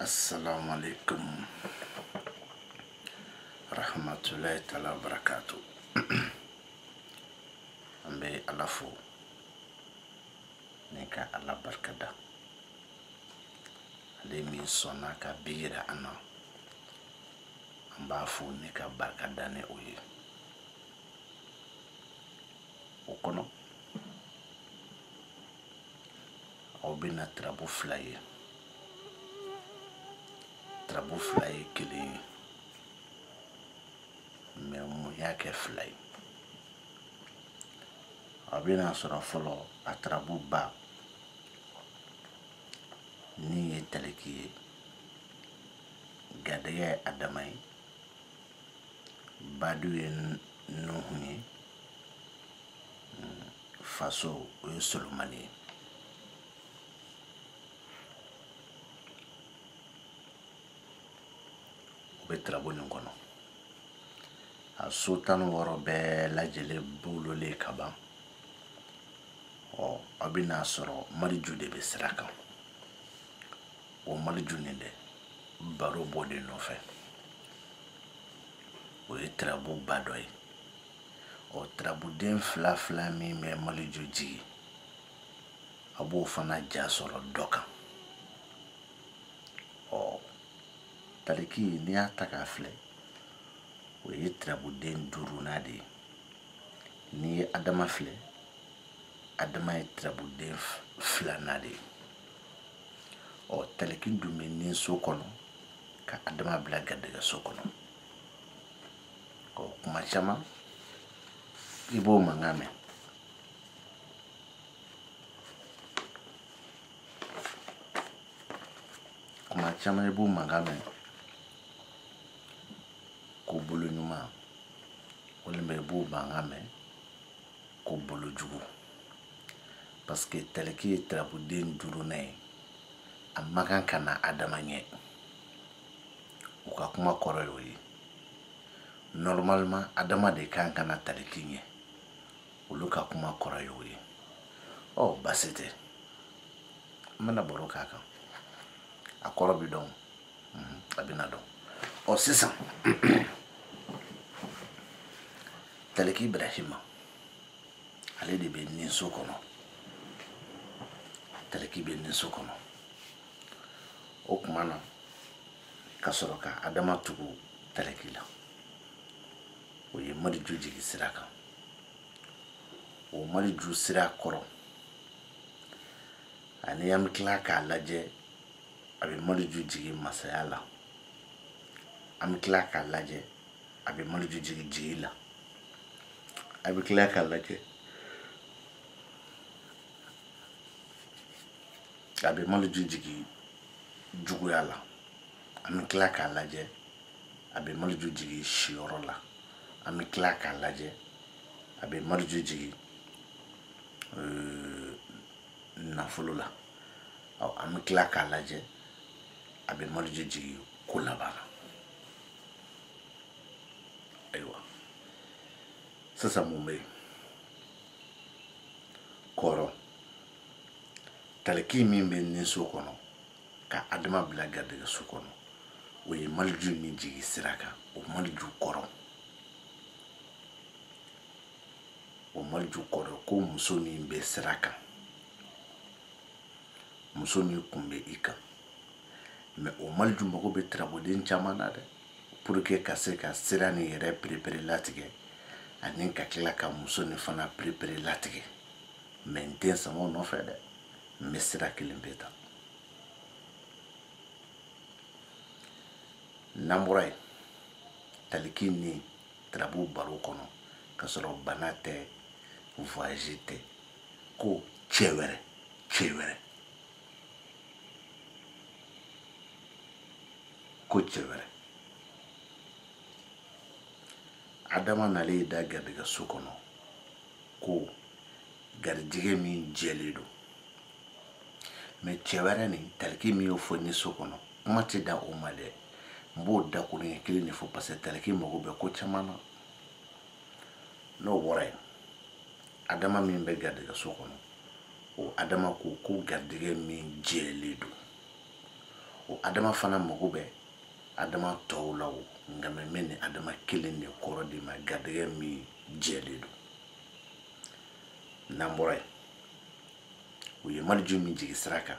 asalaamaaleykum rahmatulahi taala wa barakaatu an bɛ ala fo ni ka ala barika da ale min sɔnna ka bi yira an na an b'a fo ni k'a barika da ne o ye o kɔnɔ aw bɛna tarabu fila ye tarabu fila ye kelen ye mɛ mun y'a kɛ fila ye aw bɛn'a sɔrɔ fɔlɔ a tarabu ba ni ye taliki ye garijɛgɛ ye adama ye badu ye nuhu ye faso o ye solomani ye o bɛ tirabu nin kɔnɔ a so tan ni wɔɔrɔ bɛɛ lajɛlen bololen ka ban ɔ aw bɛn'a sɔrɔ maliju de bɛ sira kan o maliju nin dɛ baro b'o de nɔfɛ o ye tirabuba dɔ ye ɔ tarabuden fila fila min bɛ maliju jigin a b'o fana ja sɔrɔ dɔ kan ɔ taliki n'i y'a ta k'a filɛ o ye tarabuden duurunan de ye n'i ye adama filɛ adama ye tarabuden filanan de ye ɔ taliki dun bɛ ni so kɔnɔ ka adama bila garijɛgɛ so kɔnɔ kuma caman i b'o mankan mɛn kuma caman i b'o mankan mɛn ko bolo ɲuman walima i b'o mankan mɛn ko bolo jugu parce que taliki ye tarabuden duurunan ye a man kan ka na adama ɲɛ u ka kuma kɔrɔ y'o ye normalement adama de ka kan ka na taliki ɲɛ olu ka kuma kɔrɔ y'o ye ɔ oh, basi tɛ n bɛna baro k'a kan a kɔrɔ bɛ dɔn mhm, a bɛna dɔn ɔ oh, sisan taliki ibrahima ale de bɛ ni so kɔnɔ taliki bɛ ni so kɔnɔ o tuma na ka sɔrɔ ka adama tugu taliki la o ye maliju jigi sira kan o maliju sira kɔrɔ ani an bɛ tila k'a lajɛ a bɛ maliju jigi masaya la an bɛ tila k'a lajɛ a bɛ maliju jigi jigi la a bɛ tila k'a lajɛ a bɛ maliju jigi juguya la an bɛ tila k'a lajɛ a bɛ maliju jigin siyɔrɔ la an bɛ tila k'a lajɛ a bɛ maliju jigin euh, nafolo la ɔ an bɛ tila k'a lajɛ a bɛ maliju jigin ko laban na ayiwa sisan mun bɛ yen kɔrɔ taliki min bɛ ni so kɔnɔ ka adama bila garijɛgɛ so kɔnɔ o ye maliju min jigi sira kan o maliju kɔrɔ o maliju kɔrɔ ko muso min bɛ sira kan muso min kun bɛ i kan mais o maliju mago bɛ tirabuden caman na dɛ pour que ka se ka sira nin yɛrɛ pereperelatigɛ ani ka tila ka muso nin fana pereperelatigɛ mais n tɛ sama o nɔfɛ dɛ n bɛ sira kelen pe ta n'an bɔra yen taliki ni tirabu baro kɔnɔ ka sɔrɔ bana tɛ voyage tɛ ko cɛ wɛrɛ cɛ wɛrɛ ko cɛ wɛrɛ adama nalen da garijɛgɛ so kɔnɔ ko garijɛgɛ min jɛlen don mais cɛ wɛrɛ nin taliki min y'o fɔ ni so kɔnɔ kuma tɛ da o ma dɛ n b'o dakuruɲɛ kelen de fɔ parce que taliki mago bɛ ko caman na n'o bɔra yen adama min bɛ garijɛgɛ so kɔnɔ o adama ko ko garijɛgɛ min jɛlen don o adama fana mago bɛ adama tɔw la o nka mais mais n ye adama kelen de kɔrɔ d'i ma garijɛgɛ min jɛlen don n'an bɔra yen u ye maliju min jigi sira kan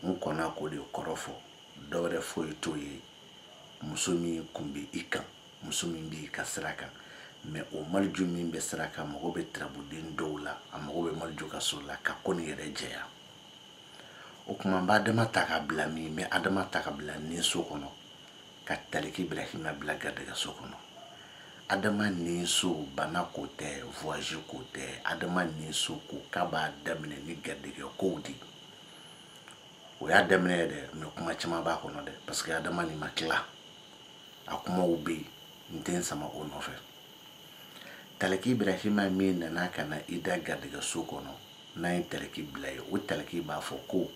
n kɔnna k'o de kɔrɔ fɔ dɔwɛrɛ foyi t'o ye muso min kun bɛ i kan muso min b'i ka sira kan mais o maliju min bɛ sira kan mago bɛ tirabuden dɔw la a mago bɛ maliju ka so la ka ko nin yɛrɛ jɛya o tuma n bɛ adama ta ka bila min n bɛ adama ta ka bila nin so kɔnɔ ka taliki Ibrahima bila garijɛgɛso kɔnɔ adama nin so bana ko tɛ voyage ko tɛ adama nin so ko k'a b'a daminɛ ni garijɛgɛ kow de ye o y'a daminɛ ye dɛ mais kuma caman b'a kɔnɔ dɛ parce que adama nin ma tila a kumaw bɛ yen n tɛ n sama o nɔfɛ Taliki Ibrahima min nana ka na i da garijɛgɛ so kɔnɔ, n'an ye taliki bila yen, o taliki b'a fɔ ko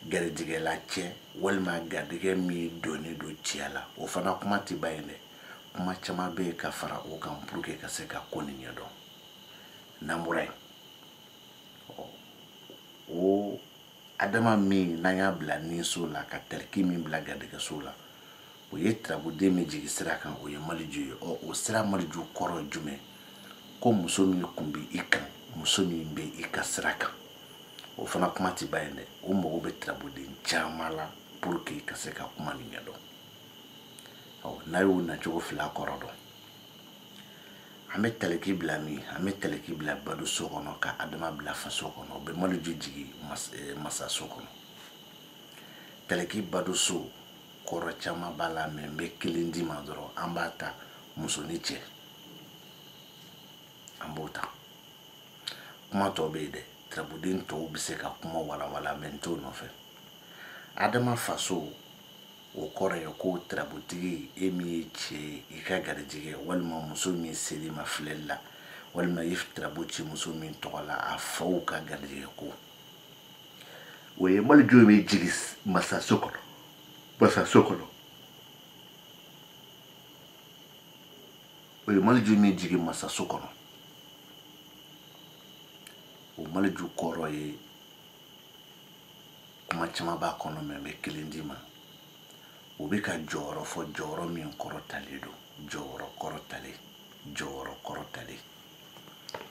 garijɛgɛla cɛ walima garijɛgɛ min donnen don cɛya la, o fana kuma tɛ ban yen dɛ, kuma caman bɛ yen ka fara o kan pour que ka se ka ko nin ɲɛdɔn. N'an bɔra yen, ɔ, o Adama min n'an y'a bila ninso la ka taliki min bila garijɛgɛso la, o ye tarabuden min jigi sira kan o ye maliju ye ɔ o sira maliju kɔrɔ ye jumɛn ko muso min kun bɛ i kan muso min bɛ i ka sira kan o fana kuma tɛ ban yen dɛ o mago bɛ tarabuden caman la pour que ka se ka kuma nin ɲɛdɔn ɔ n'a y'o nacogo fila kɔrɔ dɔn an bɛ taliki bila min an bɛ taliki bila bado so kɔnɔ ka adama bila faso kɔnɔ o bɛ maliju jigin eh, masa so kɔnɔ taliki bado so kɔrɔ caman b'a la mais n bɛ kelen d'i ma dɔrɔn an b'a ta muso ni cɛ an b'o ta kuma tɔw bɛ yen dɛ tarabuden tɔw bɛ se ka kuma walawala mais n t'o nɔfɛ adama faso o kɔrɔ ye ko tarabutigi e min ye cɛ ye i ka garijɛgɛ walima muso min ser'i ma filɛli la walima i tarabu ci muso min tɔgɔ la a faw ka garijɛgɛ ko o ye maliju min jigin masaso kɔnɔ o ye maliju min jigin masaso kɔnɔ o maliju kɔrɔ ye kuma caman b'a kɔnɔ mais n bɛ kelen d'i ma o bɛ ka jɔyɔrɔ fɔ jɔyɔrɔ min kɔrɔtalen don jɔyɔrɔ kɔrɔtalen jɔyɔrɔ kɔrɔtalen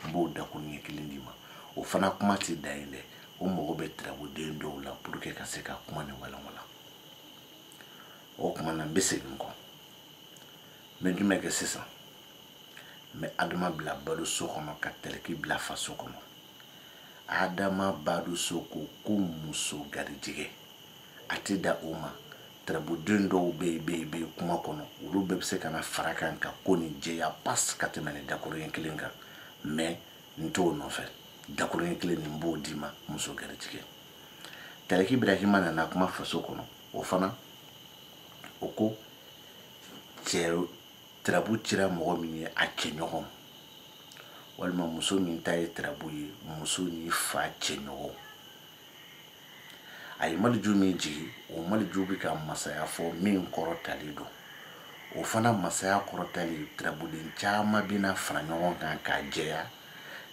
n b'o dakun ɲɛ kelen d'i ma o fana kuma tɛ dan yen dɛ o mago bɛ tarabuden dɔw la pour que ka se ka kuma nin walawala o kuma na n bɛ segin kɔ n bɛ jumɛn kɛ sisan n bɛ adama bila bado so kɔnɔ ka taliki bila faso kɔnɔ adama bado so ko ko muso garijɛgɛ a tɛ da o ma tirabuden dɔw bɛ yen bɛ yen bɛ yen kuma kɔnɔ olu bɛɛ bɛ se ka na fara kan ka ko nin jɛya pas k'a tɛmɛnen dakuruɲɛ kelen kan mɛ n t'o nɔfɛ dakuruɲɛ kelen nin n b'o d'i ma muso garijɛgɛ taliki ibrahima nana kuma faso kɔnɔ o fana o ko cɛ tirabu cira mɔgɔ min ye a cɛ ɲɔgɔn walima muso min ta ye tirabu ye muso ni fa cɛ ɲɔgɔn a ye maliju min jigi o maliju bɛ ka masaya fɔ min kɔrɔtalen don o fana masaya kɔrɔtalen tirabuden caman bɛna fara ɲɔgɔn kan k'a jɛya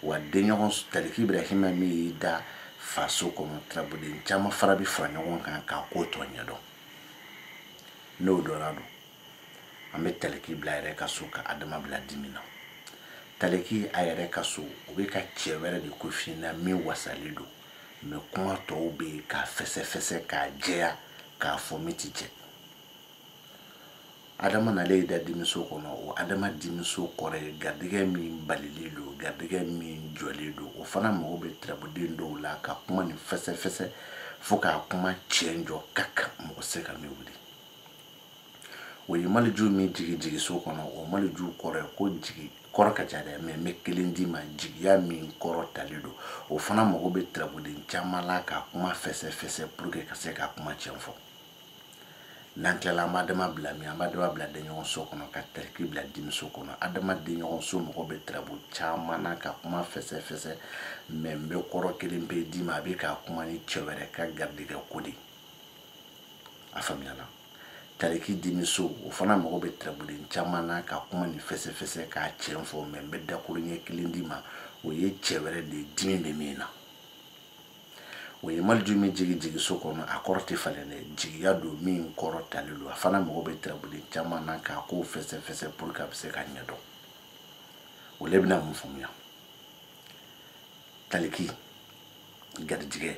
wa denɲɔgɔn taliki ibrahima min y'i da faso kɔnɔ tirabuden caman fara bɛ fara ɲɔgɔn kan k'a ko tɔ ɲɛdɔn n'o dɔnna don an bɛ taliki bila a yɛrɛ ka so ka adama bila dimi na taliki a yɛrɛ ka so o bɛ ka cɛ wɛrɛ de ko f'i ɲɛ na min wasalen don mɛ kuma tɔw bɛ yen k'a fɛsɛfɛsɛ k'a jɛya k'a fɔ min ti jɛ adama nalen y'i da dimiso kɔnɔ o adama dimiso kɔrɔ ye garijɛgɛ min balilen don garijɛgɛ min jɔlen don o fana mago bɛ tirabuden dɔw la ka kuma nin fɛsɛfɛsɛ fo k'a kuma tiɲɛ jɔ ka kan mɔgɔ se ka min wuli o ye maliju min jigi jigiso kɔnɔ o maliju kɔrɔ ye ko jigi kɔrɔ ka ca dɛ mɛ n bɛ kelen d'i ma jigiya min kɔrɔtalen don o fana mago bɛ tirabuden caman la ka kuma fɛsɛfɛsɛ pour que ka se ka kuma tiɲɛ fɔ n'an tilala an b'adama bila min an b'adama bila denɲɔgɔn so kɔnɔ ka taliki bila dimiso kɔnɔ adama denɲɔgɔn so mago bɛ tirabu caman na ka kuma fɛsɛfɛsɛ mɛ n bɛ kɔrɔ kelen pe d'i ma a bɛ ka kuma ni cɛ wɛrɛ ka garijɛgɛ ko de a faamuyala taliki dimiso o fana mago bɛ tirabuden caman na ka kuma ni fɛsɛfɛsɛ k'a tiɲɛ fɔ mɛ n bɛ dakuruɲɛ kelen d'i ma o ye cɛ wɛrɛ de ye dimi bɛ min na o ye maliju min jigi jigiso kɔnɔ a kɔrɔ tɛ falen dɛ jigiya don min kɔrɔtalen don a fana mago bɛ tirabuden caman na k'a ko fɛsɛfɛsɛ pour que a bɛ se ka ɲɛdɔn o le bɛna mun faamuya taliki garijigɛ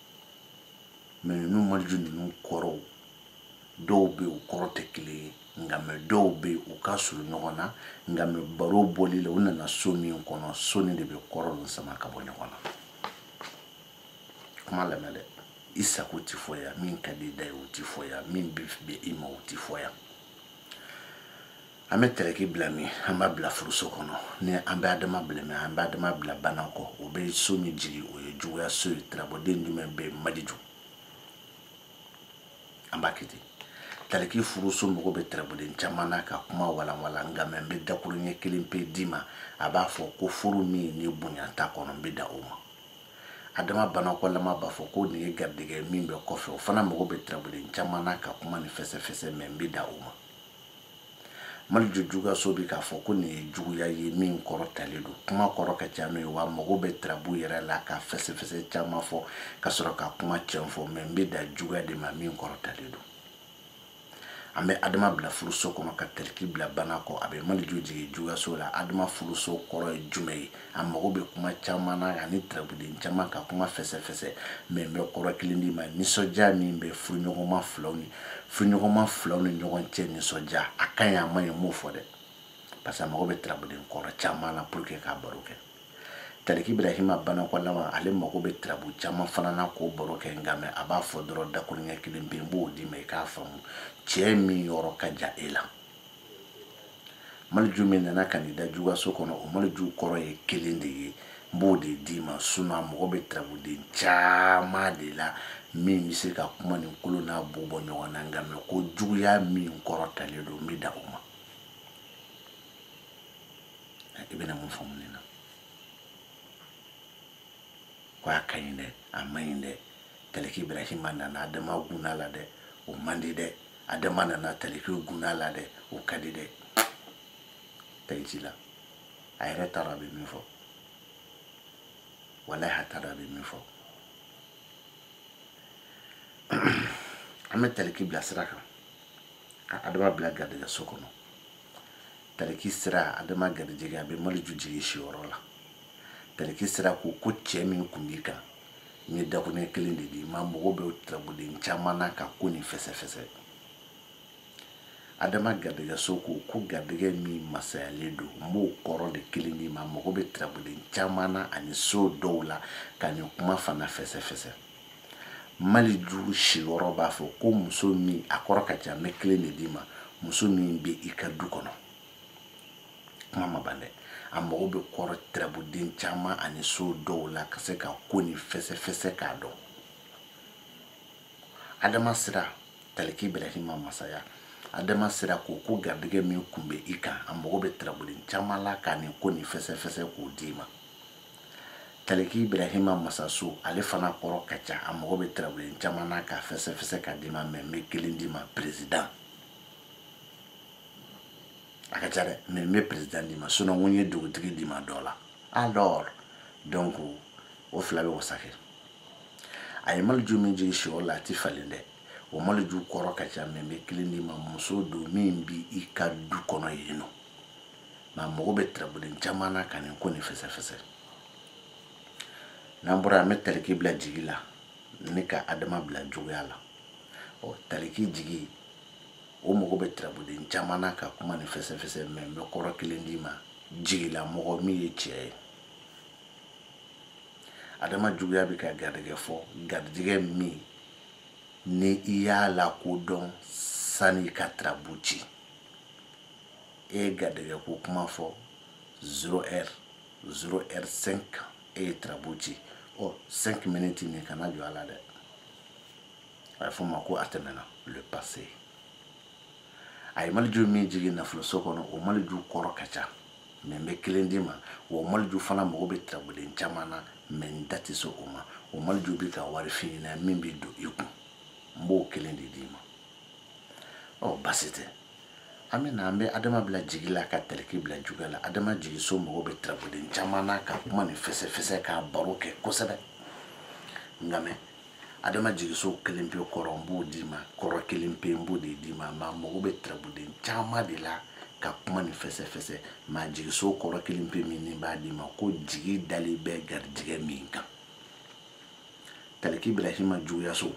mɛ ninnu maliju ninnu kɔrɔw dɔw bɛ u kɔrɔ tɛ kelen ye nka mɛ dɔw bɛ u ka surun ɲɔgɔn na nka mɛ baro bɔli la u nana so min kɔnɔ so nin de bɛ kɔrɔ ninnu sama ka bɔ ɲɔgɔn na kuma lamɛn dɛ i sago tɛ fɔ yan min ka di i da ye o tɛ fɔ yan min bɛ bɛn i ma o tɛ fɔ yan an bɛ taliki bila min an b'a bila furuso kɔnɔ ni an bɛ adama bila min an bɛ adama bila banakɔ o bɛ so min jigi o ye juguya so ye tirabuden jumɛn bɛ maliju an b'a kɛ ten tariki furuso mago bɛ tirabuden caman na ka kuma walanwalan nka mɛ n bɛ dakuruɲɛ kelen pe d'i ma a b'a fɔ ko furu min ni bonya t'a kɔnɔ n bɛ dan o ma adama banakɔlama b'a fɔ ko nin ye garijɛgɛ min bɛ kɔfɛ o fana mago bɛ tirabuden caman na ka kuma nin fɛsɛfɛsɛ mɛ n bɛ dan o ma maliju juguyaso bɛ k'a fɔ ko nin ye juguya ye min kɔrɔ talen don kuma kɔrɔ ka ca n'o ye wa mago bɛ tirabu yɛrɛ la ka fɛsɛfɛsɛ caman fɔ ka sɔrɔ ka kuma tiɲɛ fɔ mɛ n bɛ dan juguya de ma min kɔrɔ talen don an bɛ adama bila furuso kɔnɔ ka taliki bila banakɔ a bɛ maliju jigin juguyaso la adama furuso kɔrɔ ye jumɛn ye a mago bɛ kuma caman na ani tirabuden caman ka kuma fɛsɛfɛsɛ mɛ n bɛ kɔrɔ kelen d'i ma nisɔndiya min bɛ furuɲɔgɔnma filaw ni furuɲɔgɔnma filaw ni ɲɔgɔn cɛ nisɔndiya a ka ɲi a man ɲi n m'o fɔ dɛ parce que a mago bɛ tirabuden kɔrɔ caman na pour que k'a baro kɛ taliki ibrahima banakɔlama ale mago bɛ tirabu caman fana na k'o baro kɛ nka mɛ a b'a fɔ dɔrɔn dakuruɲɛ kelen pe n b'o d'i ma i k'a faamu cɛ min yɔrɔ ka jan e la maliju min nana ka n'i da juguyaso kɔnɔ o maliju kɔrɔ ye kelen de ye n b'o de d'i ma sinon a mago bɛ tirabuden caman de la min bɛ se ka kuma nin kolo n'a bu bɔ ɲɔgɔn na nka mɛ ko juguya min kɔrɔ talen don n bɛ dan o ma i bɛna mun faamu nin na ko a ka ɲi dɛ a man ɲi dɛ taliki ibrahima nana adama gunna la dɛ o man di dɛ adama nana taliki gunna la dɛ o ka di dɛ taji la a yɛrɛ t'a dɔn a bɛ min fɔ walayi a t'a dɔn a bɛ min fɔ an bɛ taliki bila sira kan ka adama bila garijɛgɛso kɔnɔ tariki sira adama garijɛgɛ a bɛ maliju jigin siyɔrɔ la tariki sira ko ko cɛ min kun b'i kan n ye dakuruɲɛ kelen de d'i ma mago bɛ tirabuden caman na ka ko nin fɛsɛfɛsɛ adama garijɛgɛso ko ko garijɛgɛ min masayalen don n b'o kɔrɔ de kelen d'i ma mago bɛ tirabuden caman na ani so dɔw la ka nin kuma fana fɛsɛfɛsɛ maliju siyɔrɔ b'a fɔ ko muso min a kɔrɔ ka ca n bɛ kelen de d'i ma muso min bɛ i ka du kɔnɔ kuma ma ban dɛ a mago bɛ kɔrɔ tirabuden caman ani so dɔw la ka se ka ko nin fɛsɛfɛsɛ k'a dɔn adama sira taliki ibrahima masaya adama sira ko ko garijɛgɛ min kun bɛ i kan a mago bɛ tirabuden caman la ka nin ko nin fɛsɛfɛsɛ k'o d'i ma taliki ibrahima masaso ale fana kɔrɔ ka ca a mago bɛ tirabuden caman na k'a fɛsɛfɛsɛ ka d'i ma mɛ n bɛ kelen d'i ma perezidan a ka ca dɛ mɛ n bɛ perezidan d'i ma sinon ko n ye dugutigi d'i ma dɔ la alors donc o fila bɛ wasa kɛ a ye maliju min jigin siyɔrɔ la a ti falen dɛ o maliju kɔrɔ ka ca mɛ n bɛ kelen d'i ma muso don min bi i ka du kɔnɔ yen nɔ mɛ a mago bɛ tirabuden caman na ka nin ko nin fɛsɛfɛsɛ n'an bɔra an bɛ taliki bila jigi la ni ka adama bila juguya la ɔ taliki jigi o mago bɛ tirabuden caman na ka kuma nin fɛsɛfɛsɛ mɛ n bɛ kɔrɔ kelen d'i ma jigila mɔgɔ min ye cɛ ye adama juguya bɛ ka garijɛgɛ fɔ garijɛgɛ min ni i y'a lakodɔn sani i ka tirabu ci e ye garijɛgɛ ko kuma fɔ zéro heure zéro heure cinq e ye tirabu ci ɔ cinq minutes nin kana jɔ a la dɛ a bɛ fɔ o ma ko a tɛmɛna le passé a ye maliju min jigin nafoloso kɔnɔ o maliju kɔrɔ ka ca mɛ n bɛ kelen d'i ma wa o maliju fana mago bɛ tirabuden caman na mɛ n da tɛ se o ma o maliju bɛ ka wari f'i ɲɛ na min bɛ don i kun n b'o kelen de d'i ma ɔ basi tɛ an bɛ na an bɛ adama bila jigi la ka taliki bila juguya la adama jigiso mago bɛ tirabuden caman na ka kuma nin fɛsɛfɛsɛ k'a baro kɛ kosɛbɛ nka mɛ adama jigiso kelen pe kɔrɔ n b'o d'i ma kɔrɔ kelen pe n b'o de d'i ma mɛ a mago bɛ tirabuden caman de la ka kuma nin fɛsɛfɛsɛ mɛ a jigiso kɔrɔ kelen pe min ne b'a d'i ma ko jigi dalen bɛ garijɛgɛ min kan taliki ibrahima juguyaso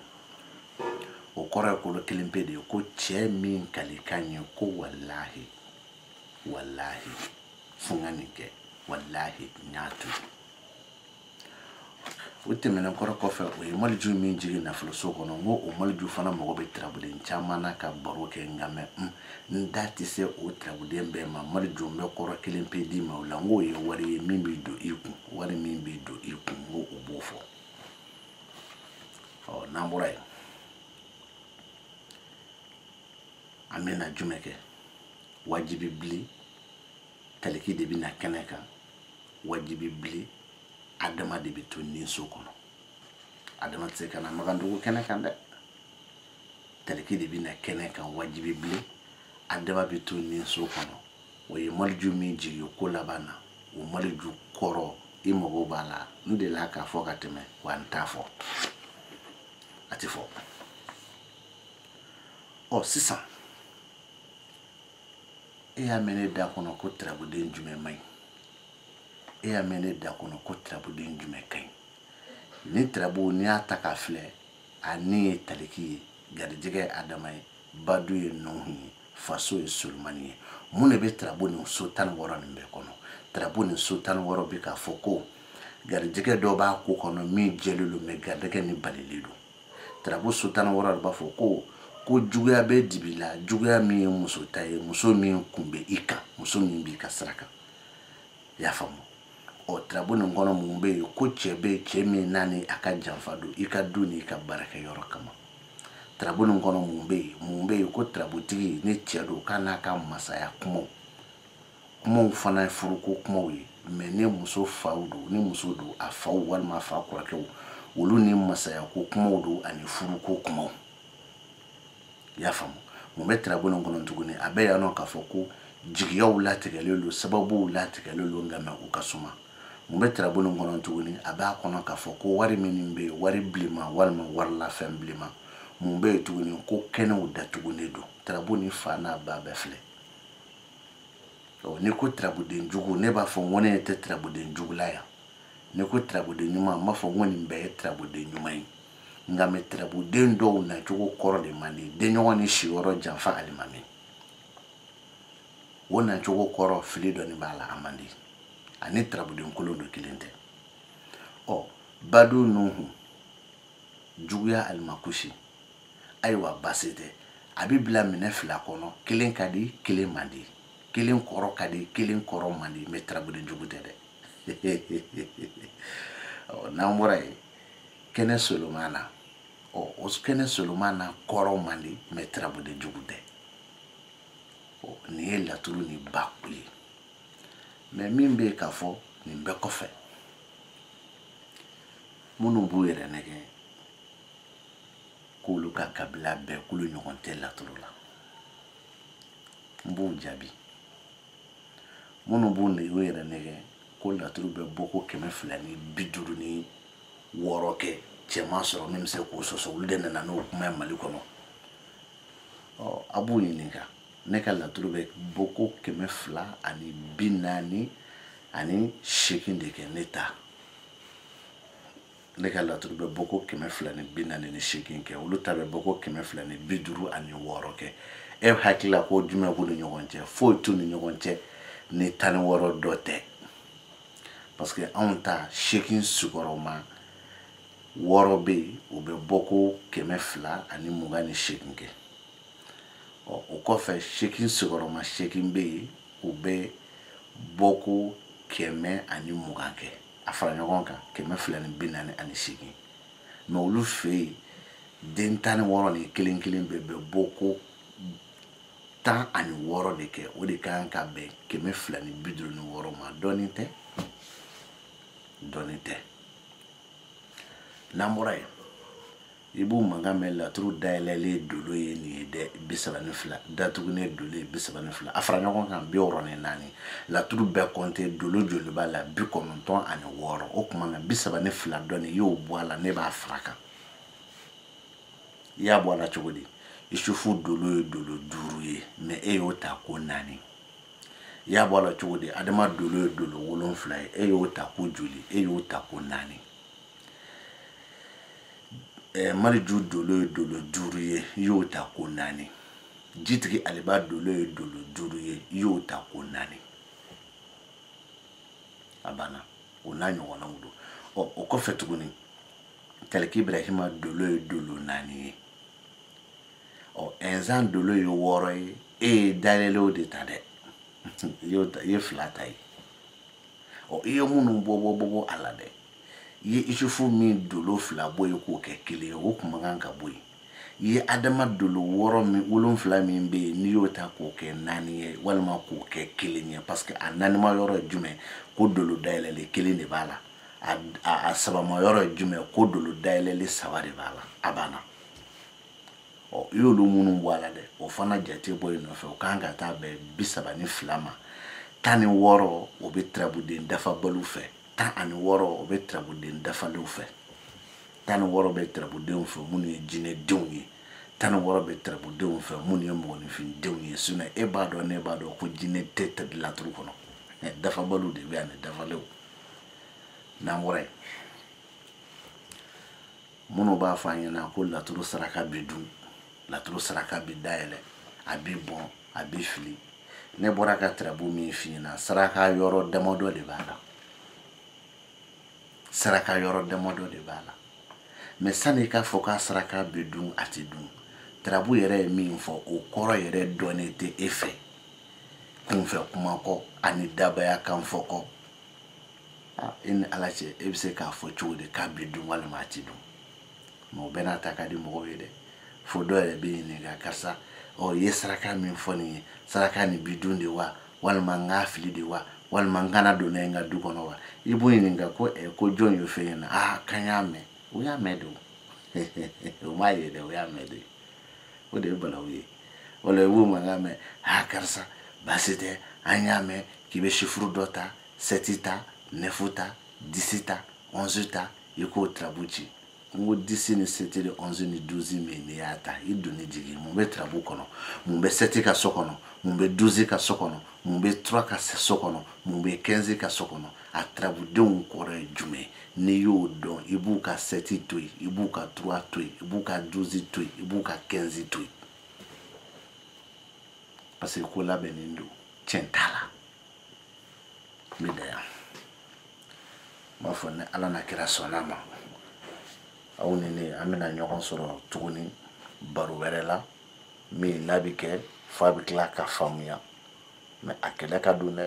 o kɔrɔ ye kolo kelen pe de ye ko cɛ min kalikan ye ko walahi walahi fo n ka nin kɛ walahi n y'a to o tɛmɛnen kɔrɔ kɔfɛ o ye maliju min jigin nafoloso kɔnɔ n ko o maliju fana mago bɛ tirabuden caman na ka baro kɛ nka mɛ n da tɛ se o tirabuden bɛɛ ma maliju n bɛ kɔrɔ kelen pe d'i ma o la n k'o ye wari ye min bɛ don i kun wari min bɛ don i kun n ko o b'o fɔ ɔ n'an bɔra yen an bɛna jumɛn kɛ wajibi bili taliki de bɛ na kɛnɛ kan wajibi bili adama de bɛ to ninso kɔnɔ adama tɛ se ka na magandugu kɛnɛ kan dɛ taliki de bɛna kɛnɛ kan wajibi bilen adama bɛ to nin so kɔnɔ o ye maliju min jigin ko laban na o maliju kɔrɔ i mago b'a la n delila k'a fɔ ka tɛmɛ wa n t'a fɔ a tɛ fɔ ɔ sisan e y'a mɛn ne da kɔnɔ ko tirabuden jumɛn man ɲi e y'a mɛn ne da kɔnɔ ko tirabuden jumɛn ka ɲi ni tirabu n'i y'a ta k'a filɛ a ni ye taliki ye garijɛgɛ ye adama ye badu ye nuhu ye faso ye solomani ye mun de bɛ tirabu nin so tan ni wɔɔrɔ nin bɛɛ kɔnɔ tirabu nin so tan ni wɔɔrɔ bɛ k'a fɔ ko garijɛgɛ dɔ b'a ko kɔnɔ min jɛlen don mɛ garijɛgɛ nin balilen don tirabu so tan ni wɔɔrɔ de b'a fɔ ko ko juguya bɛ dibi la juguya min ye muso ta ye muso min kun bɛ i kan muso min b'i ka sira kan i y'a faamu ɔ tirabu nin kɔnɔ mun bɛ yen ko cɛ bɛ yen cɛ min n'a ni a ka janfa don i ka du n'i ka baarakɛyɔrɔ kama tirabu nin kɔnɔ mun bɛ yen mun bɛ yen ko tirabutigi ni cɛ don k'a n'a ka masaya kumaw kumaw fana ye furuko kumaw ye mɛ ni muso faw don ni muso don a faw walima a fa kɔrɔkɛw olu ni masayako kumaw don ani furuko kumaw i y'a faamu mun bɛ tirabu nin kɔnɔ tuguni a bɛ yan nɔ k'a fɔ ko jigiyaw latigɛlen don sababuw latigɛlen don nka mɛ u ka suma mun bɛ tirabu nin kɔnɔ tuguni a b'a kɔnɔ k'a fɔ ko wari minnu bɛ yen wari bilenma walima warilafɛn bilenma mun bɛ yen tuguni ko kɛnɛw datugulen don tirabu nin fa n'a ba bɛɛ filɛ n'i ko tirabuden jugu ne b'a fɔ n ko ne tɛ tirabuden jugu la yan n'i ko tirabuden ɲuman n b'a fɔ n ko nin bɛɛ ye tirabuden ɲuman ye nka mɛ tirabuden dɔw nacogo kɔrɔ de man di denɲɔgɔn ni siyɔrɔ janfa alimami o nacogo kɔrɔ fili dɔɔni b'a la a man di ani tirabuden kolon don kelen tɛ ɔ badu nuhu juguya alimakusi ayiwa basi tɛ a bɛ bila minɛ fila kɔnɔ kelen ka di kelen man di kelen kɔrɔ ka di kelen kɔrɔ man di mɛ tirabuden jugu tɛ dɛ n'an bɔra yen kɛnɛ solomana ɔ o kɛnɛ solomana kɔrɔ man di mɛ tirabuden jugu tɛ ɔ nin ye laturu nin bakuru ye mɛ min bɛ yen k'a fɔ nin bɛɛ kɔfɛ minnu b'u yɛrɛ nɛgɛn k'olu ka kabila bɛɛ k'olu ɲɔgɔn tɛ laturu la n b'u jaabi minnu b'u nɛ yɛrɛ nɛgɛn ko laturu bɛ bɔko kɛmɛ fila ni bi duuru ni wɔɔrɔ kɛ cɛ ma sɔrɔ min bɛ se k'o sɔsɔ olu de nana n'o kuma ye mali kɔnɔ ɔ a b'u ɲininka ne ka laturu bɛ bɔko kɛmɛ fila ani bi naani ani seegin de kɛ ne ta ne ka laturu bɛ bɔ ko kɛmɛ fila ni bi naani ni seegin kɛ olu ta bɛ bɔ ko kɛmɛ fila ni bi duuru ani wɔɔrɔ kɛ e hakili la ko jumɛn b'u ni ɲɔgɔn cɛ foyi t'u ni ɲɔgɔn cɛ ni tan ni wɔɔrɔ dɔ tɛ parce que anw ta seegin sigiyɔrɔma wɔɔrɔ bɛ yen o bɛ bɔ ko kɛmɛ fila ani mugan ni seegin kɛ ɔ o kɔfɛ seegin sigiyɔrɔma seegin bɛ yen o bɛ bɔ ko kɛmɛ ani mugan kɛ a fara ɲɔgɔn kan kɛmɛ fila ni bi naani ani seegin mais olu fɛ yen den tan ni wɔɔrɔ nin kelen kelen bɛɛ bɛ bɔ ko tan ani wɔɔrɔ de kɛ o de ka kan ka bɛn kɛmɛ fila ni bi duuru ni wɔɔrɔ ma dɔɔnin tɛ dɔɔnin tɛ n'an bɔra yen i b'u mankan mɛn laturu dayɛlɛlen dolo ye nin ye dɛ bi saba ni fila datugulen dolo ye bi saba ni fila a fara ɲɔgɔn kan bi wɔɔrɔ ni naani laturu bɛɛ kɔnte dolo joli b'a la bi kɔnɔntɔn ani wɔɔrɔ o tuma na bi saba ni fila dɔ n'i y'o bɔ a la ne b'a fara kan i y'a bɔ a la cogo di isufu dolo ye dolo duuru ye mais e y'o ta ko naani i y'a bɔ a la cogo di adama dolo ye dolo wolonfila ye e y'o ta ko joli e y'o ta ko naani eh, maliju dolo ye dolo duuru ye i y'o ta ko naani jitigi aliba dolo ye dolo duuru ye i y'o ta ko naani a banna o n'a ɲɔgɔnnaw don ɔ o kɔfɛ tuguni taliki ibrahima dolo ye dolo naani ye ɔ ɛnzan dolo ye wɔɔrɔ ye e ye dayɛlɛlenw de ta dɛ i ye fila ta yen ɔ i ye minnu bɔ bɔ bɔ bɔ a la dɛ i ye isufu min dolo fila bɔ yen k'o kɛ kelen ye o kun man kan ka bɔ yen i ye adama dolo wolonfila min bɛ yen n'i y'o ta k'o kɛ naani ye walima k'o kɛ kelen ye parce que a naanima yɔrɔ ye jumɛn ko dolo dayɛlɛlen kelen de b'a la a sabama yɔrɔ ye jumɛn ko dolo dayɛlɛlen saba de b'a la a banna ɔ i y'olu minnu bɔ a la dɛ o fana jate bɔ i nɔfɛ o kan ka taa bɛn bi saba ni fila ma tan ni wɔɔrɔ o bɛ turabuden dafabaliw fɛ tan ani wɔɔrɔ o bɛ turabuden dafalenw fɛ tan ni wɔɔrɔ bɛ turabudenw fɛ minnu ye jinɛdenw ye tan ni wɔɔrɔ bɛ turabudenw fɛ minnu ye mɔgɔninfindenw ye sinon e b'a dɔn ne b'a dɔn ko jinɛden tɛ laturu kɔnɔ mais dafabaliw de bɛ yan ni dafalenw n'an bɔra yen minnu b'a fɔ a ɲɛna ko laturu saraka bɛ dun laturu saraka bɛ dayɛlɛ a bɛ bɔn a bɛ fili ne bɔra ka turabu min f'i ɲɛna saraka yɔrɔ damadɔ de b'a la saraka yɔrɔ damadɔ de b'a la mais sani i k'a fɔ k'a saraka bɛ dun a tɛ dun turabu yɛrɛ ye min fɔ o kɔrɔ yɛrɛ dɔnnen tɛ e fɛ kunfɛ kuma kɔ ani dabaya kan fɔ kɔ ah, e ni ala cɛ e bɛ se k'a fɔ cogo di k'a bɛ dun walima a tɛ dun mais o bɛɛ n'a ta ka di mɔgɔw ye dɛ fo dɔ yɛrɛ bɛ ɲininka karisa ɔ i ye saraka min fɔ ne ye saraka nin bɛ dun de wa walima n k'a fili de wa walima n kana don n'a ye n ka du kɔnɔ wa i b'o ɲininka ko ɛ ko jɔn y'o fɔ i ɲɛ na aa k'an y'a mɛn o y'a mɛn de o o m'a ye dɛ o y'a mɛn de o de ye balawu ye o la i b'o mankan mɛn aa karisa baasi tɛ an y'a mɛn k'i bɛ sifuru dɔ ta sɛti ta nɛfu ta disi ta ɔnzi ta i k'o tirabu ci n ko disi ni sɛti ni ɔnzi ni duzi min n'i y'a ta i donni jigin mun bɛ tirabu kɔnɔ mun bɛ sɛti ka so kɔnɔ mun bɛ duzi ka so kɔnɔ mun bɛ tura ka so kɔnɔ mun bɛ kɛnzi ka so kɔnɔ a tirabudenw kɔrɔ ye jumɛn n'i y'o dɔn i b'u ka sɛti to yen i b'u ka tura to yen i b'u ka duzi to yen i b'u ka kɛnzi to yen parce que ko labɛnnen don tiɲɛ t'a la n bɛ dan yan n b'a fɔ ni ala n'a kira sɔnn'a ma aw ni ne an bɛna ɲɔgɔn sɔrɔ tuguni baro wɛrɛ la min n'a bɛ kɛ f'a bɛ tila ka faamuya mais a kɛlɛ ka don dɛ